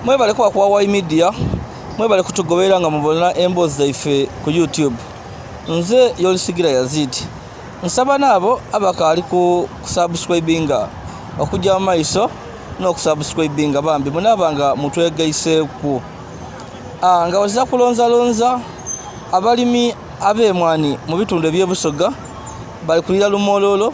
mwebale kuba kuwa wai media mwebale kutugoberera nga mubona emboozi zaife ku youtube nze yolisigira yazid nsaba naabo abakaali ku kusubscribinga okujja mu maiso n'okusubscribinga bambi munaaba nga mutwegaiseeku ah, nga wazira kulonzalonza abalimi ab'emwani mu bitundu eby'ebusoga bali kulira lumololo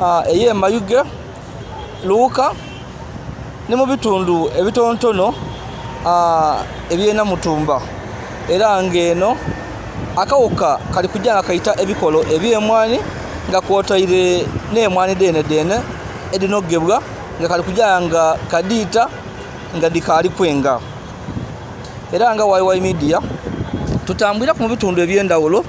ah, eye Mayuge Luuka ne mu bitundu ebitontono ah, ebyena Mutumba era ng'eno akawuka kali kujja nga kayita ebikolo eby'emwanyi nga kwotaire n'emwanyi dene dene edinogebwa nga kali kujja nga kadiita nga dikaali kwenga era nga YY Media tutambulira ku mu bitundu eby'endawulo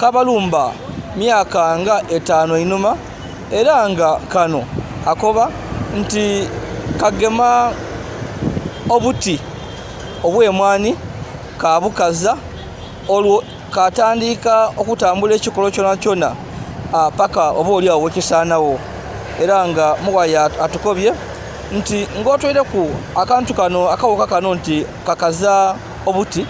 kabalumba myaka nga etaano enuma era nga kano akoba nti kagema obuti obw'emwanyi kabukaza olwo katandiika okutambula ekikolo kyona kyona ah, paka oba oli awo wekisaanawo era nga muwaya atukobye nti ng'otwire ku akantu kano akawuka kano nti kakaza obuti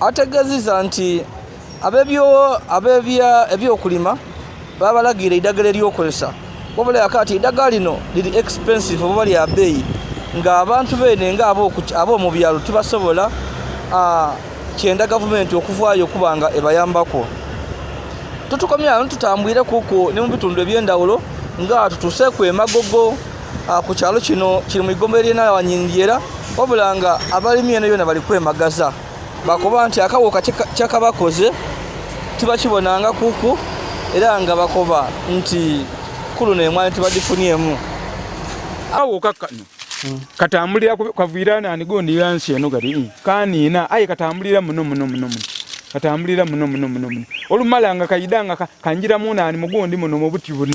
ategeziza nti abebyokulima babalagira eddagala eryokozesa wabula yakati eddagala lino liri expensive oba lya beeyi ng'abantu beene nga ab'omu byalo tibasobola kyenda gavumenti okuvaayo okuba nga ebayambako tutukomyayo tutambwire kuku ne mu bitundu eby'endawulo nga tutuseeku emagogo Ah, ku kyalo kino kiri mu igombe lyenawanyindyera wabula nga abalimi eno yona bali kwemagaza bakoba nti akawuka kyakabakoze tibakibonanga kuku era nga bakoba nti kuluno emwani tibagifuniemu awuka kano hmm. katambulira kavuyira nani gondi yansi eno kati hmm. kaniina aye katambulira muno muno muno muno katambulira muno muno muno muno olumala nga kayida nga kanjiramu nani mugundi muno mubuti buno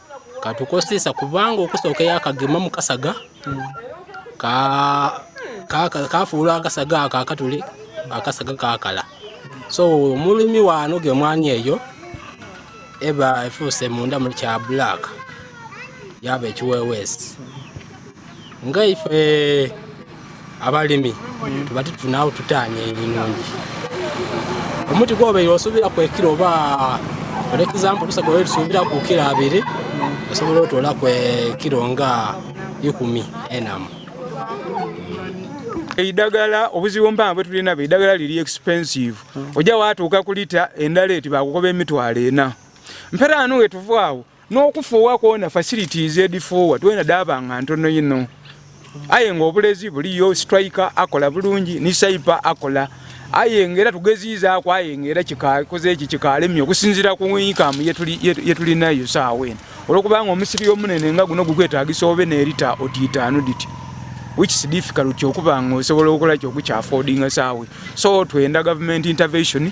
katukosesa kubanga okusookeyo akagema mu kasaga kafuula akasaga ako akatuli akasaga kakala so omulimi waano gemwani eyo eba efuuse munda muli kya black yaba ekiweweesi nga ife abalimi tuba titufuna awo tutaanya ebinungi omuti gwobeire osuubira kwekira oba for example tusaga oyo tusuubira ku kiro abiri osobola otoola kwe kiro nga ikumi enamu eidagala obuzibu mpanga bwetulina be eidagala liri expensive ojja watuuka ku lita endala eti bakukoba emitwalo ena mpera anu wetuvaawo n'okufuuwa kwona facilities edifuuwa twena daba nga ntono yino aye nga obulezi buliyo striker akola bulungi ni saipa akola aye nga era tugeziizaako aye nga era kikoze eki kikalemye okusinziira ku inkamu yetulinayo saawa eno olwokubanga omusiri omunene nga guno gukwetagisa obe nerita otiitaanu diti which is difficult okuba nga osobola okukola kyokukyafodinga saawe so twenda government intervention